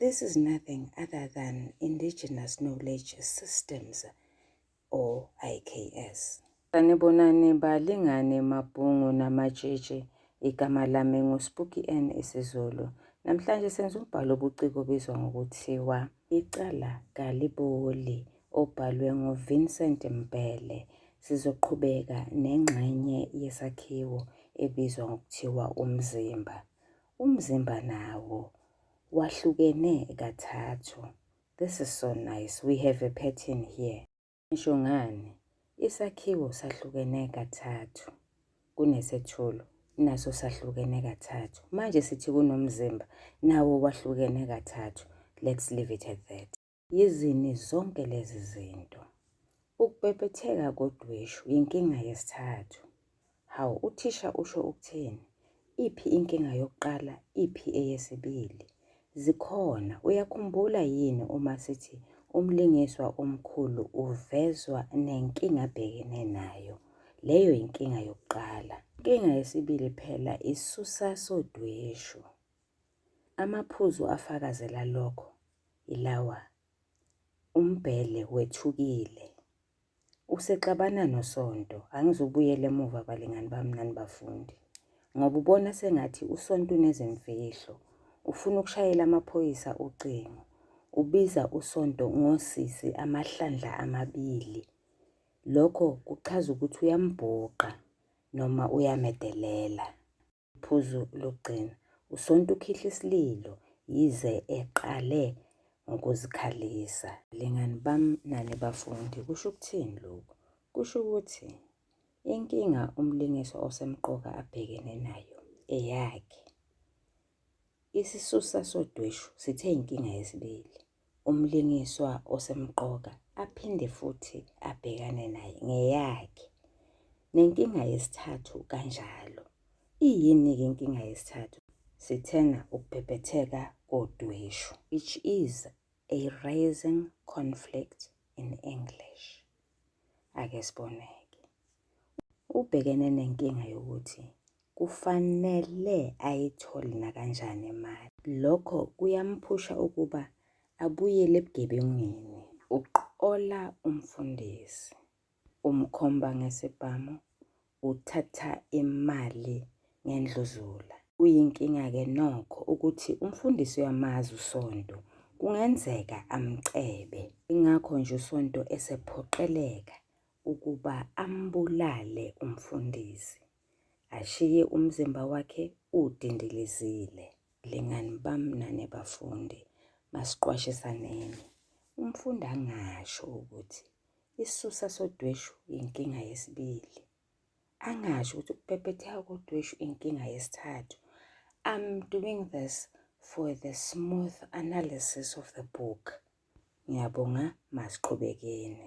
This is nothing other than indigenous knowledge systems or IKS. Sanibonani balingane mabhungu namatshitshi igama lami nguSpooky N isiZulu. Namhlanje senza umbhalo obuciko obizwa ngokuthiwa Icala Kaliboli obhalwe nguVincent Mbhele. Sizoqhubeka nengxenye yesakhiwo ebizwa ngokuthiwa umzimba. Umzimba nawo wahlukene kathathu. This is so nice. We have a pattern here. Ngisho ngani? Isakhiwo sahlukene kathathu kunesethulo naso sahlukene kathathu. Manje sithi kunomzimba nawo wahlukene kathathu. Let's leave it at that. Yizini zonke lezi zinto. Ukubhebhetheka kodweshu yinkinga yesithathu. Hawu, uthisha usho ukuthini? Iphi inkinga yokuqala, iphi eyesibili? Zikhona. Uyakhumbula yini uma sithi umlingiswa omkhulu uvezwa nenkinga abhekene nayo? Leyo yinkinga yokuqala. Inkinga yesibili phela isusa sodweshu. Amaphuzu afakazela lokho yilawa, Umbhele wethukile. Usexabana noSonto. Angizubuyela emuva balingani bami nani bafundi. Ngoba ubona sengathi uSonto unezimfihlo. Ufuna ukushayela amaphoyisa ucingo. Ubiza uSonto ngosisi amahlandla amabili. Lokho kuchaza ukuthi uyambhuqa noma uyamedelela. Iphuzu lokugcina, uSonto ukhihla isililo yize eqale ngokuzikhalisa. Lingani bam nani bafundi, kusho ukuthini lokhu? Kusho ukuthi inkinga umlingiswa osemqoka abhekene nayo eyakhe. Isisusa sodweshu sithe inkinga yesibili. umlingiswa osemqoka aphinde futhi abhekane naye ngeyakhe. Nenkinga yesithathu kanjalo. Iyini-ke inkinga yesithathu? Sithena ukubhebhetheka kodweshu, which is a rising conflict in English. Ake sibone-ke. Ubhekene nenkinga yokuthi kufanele ayithole nakanjani imali. Lokho kuyamphusha ukuba abuyele ebugebengwini. Uqola umfundisi, umkhomba ngesibhamu, uthatha imali ngendluzula. Kuyinkinga-ke nokho ukuthi umfundisi uyamazi uSonto, kungenzeka amcebe. Ingakho nje uSonto esephoqeleka ukuba ambulale umfundisi ashiye umzimba wakhe udindilizile. Lingani bamnane bafundi, masiqwashisaneni. Umfundi angasho ukuthi isisusa sodweshu inkinga yesibili. Angasho ukuthi ukupepetheka kodweshu inkinga yesithathu. I'm doing this for the smooth analysis of the book. Ngiyabonga, masiqhubekeni.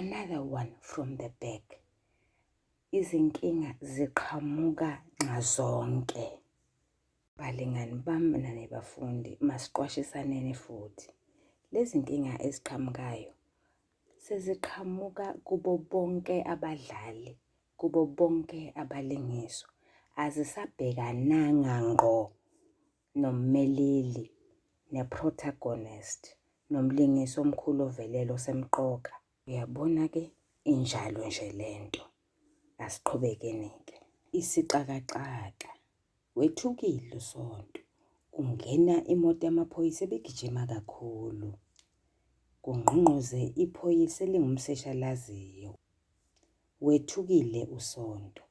another one from the back izinkinga ziqhamuka nxazonke balingani bami nane bafundi masiqwashisaneni futhi lezi nkinga eziqhamukayo seziqhamuka kubo bonke abadlali kubo bonke abalingiswa azisabhekananga ngqo nommeleli, ne-protagonist, nomlingisi omkhulu ovelele osemqoka. Uyabona ke injalo nje lento. Asiqhubekeni ke. Isixakaxaka. Wethukile uSonto. Ungena imoto yamaphoyisa ebigijima kakhulu. Kungqongqoze iphoyisa elingumseshalaziyo. Wethukile uSonto,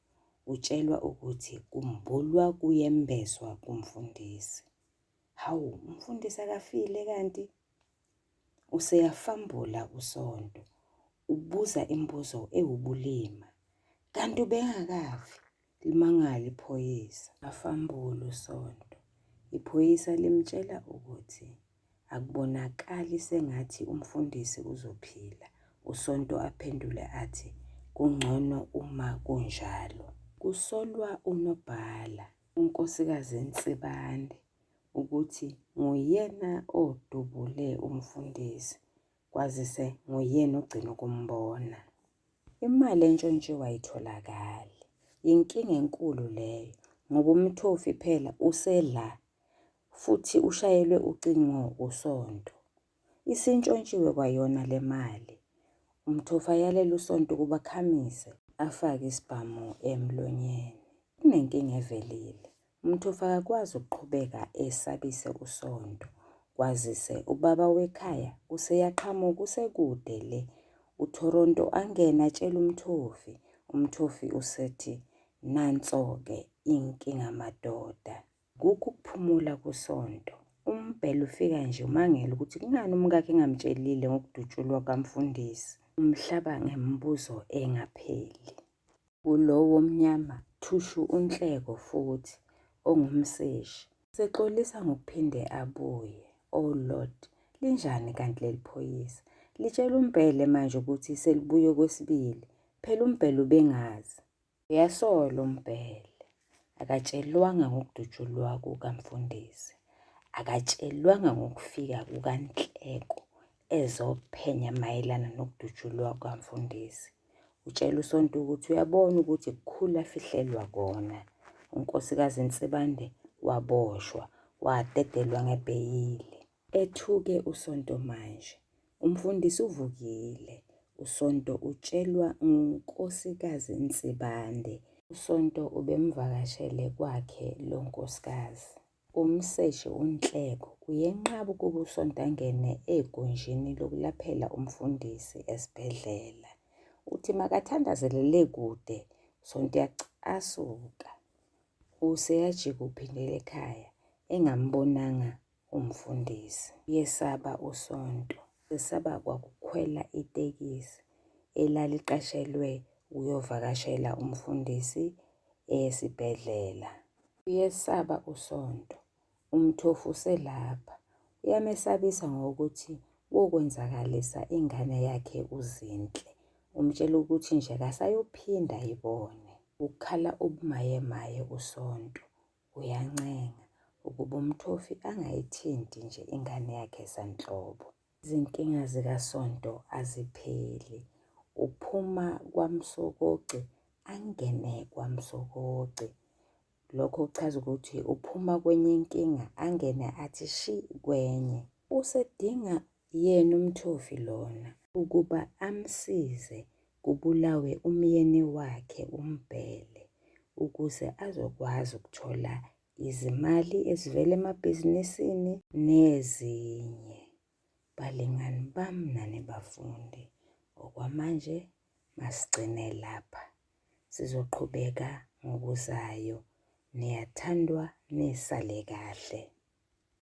utshelwa ukuthi kumbulwa kuyembeswa kumfundisi. Hawu, umfundisi akafile kanti? Useyafambula uSonto, ubuza imibuzo ewubulima. Kanti ubengakafi? Limangale iphoyisa. Afambulu Sonto. Iphoyisa limtshela ukuthi akubonakali sengathi umfundisi uzophila. USonto aphendule athi kungcono uma kunjalo. Kusolwa unobhala uNkosikazi Nsibande ukuthi nguyena odubule umfundisi kwazise nguyena ogcina ukumbona. Imali entshontshiwe ayitholakali. Yinkinga enkulu leyo ngoba umthofi phela usela futhi ushayelwe ucingo usonto. Isintshontshiwe kwayona le mali. Umthofi ayalele usonto ukuba akhamise afake isibhamu emlonyeni. Kunenkinga evelile. Umthofu akakwazi ukuqhubeka esabise usonto kwazise ubaba wekhaya useyaqhamuka usekude le uToronto angena atshela umthofi umthofi usethi nanso-ke inkinga madoda kukho ukuphumula kusonto umbhele ufika nje umangele ukuthi kungani umkakhe engamtshelile ngokudutshulwa kamfundisi umhlaba ngemibuzo engapheli Kulo womnyama thushu uNhleko futhi ongumseshi. Sexolisa ngokuphinde abuye. O Lord, linjani kanti leli phoyisa? Litshela uMbhele manje ukuthi selibuye okwesibili. Phela uMbhele ubengazi. Uyasolo uMbhele. Akatshelwanga ngokudutshulwa kukamfundisi. Akatshelwanga ngokufika kukanhleko ezophenya mayelana nokudutshulwa kukamfundisi. Utshela usonto ukuthi uyabona ukuthi kukhulu afihlelwa kona. Unkosikazi Nsibande waboshwa, wadedelwa ngebheyili. Ethuke uSonto manje, umfundisi uvukile. USonto utshelwa nguNkosikazi Nsibande. USonto ubemvakashele kwakhe lo nkosikazi. Umseshi uNhleko uyenqaba ukuba uSonto angene egunjini lokulaphela umfundisi esibhedlela. Uthi makathandazele le kude, uSonto uyacasuka. Useyajika uphindela ekhaya engambonanga umfundisi. Uyesaba usonto, esaba kwakukhwela itekisi elaliqashelwe ukuyovakashela umfundisi esibhedlela. Uyesaba usonto, umthofu uselapha. Uyamesabisa ngokuthi wokwenzakalisa ingane yakhe uZinhle. Umtshela ukuthi nje kasayophinda ayibone. Ukhala ubumayemaye usonto. Uyancenga ukuba umthofi angayithinti nje ingane yakhe sanhlobo. Izinkinga zikaSonto azipheli. Uphuma kwaMsokoci angene kwaMsokoci. Lokho kuchaza ukuthi uphuma kwenye inkinga angene athi shi kwenye. Usedinga yena umthofi lona ukuba amsize kubulawe umyeni wakhe umbhele ukuze azokwazi ukuthola izimali ezivela emabhizinisini nezinye balingani bami nani bafundi okwamanje masigcine lapha sizoqhubeka ngokuzayo niyathandwa nisale kahle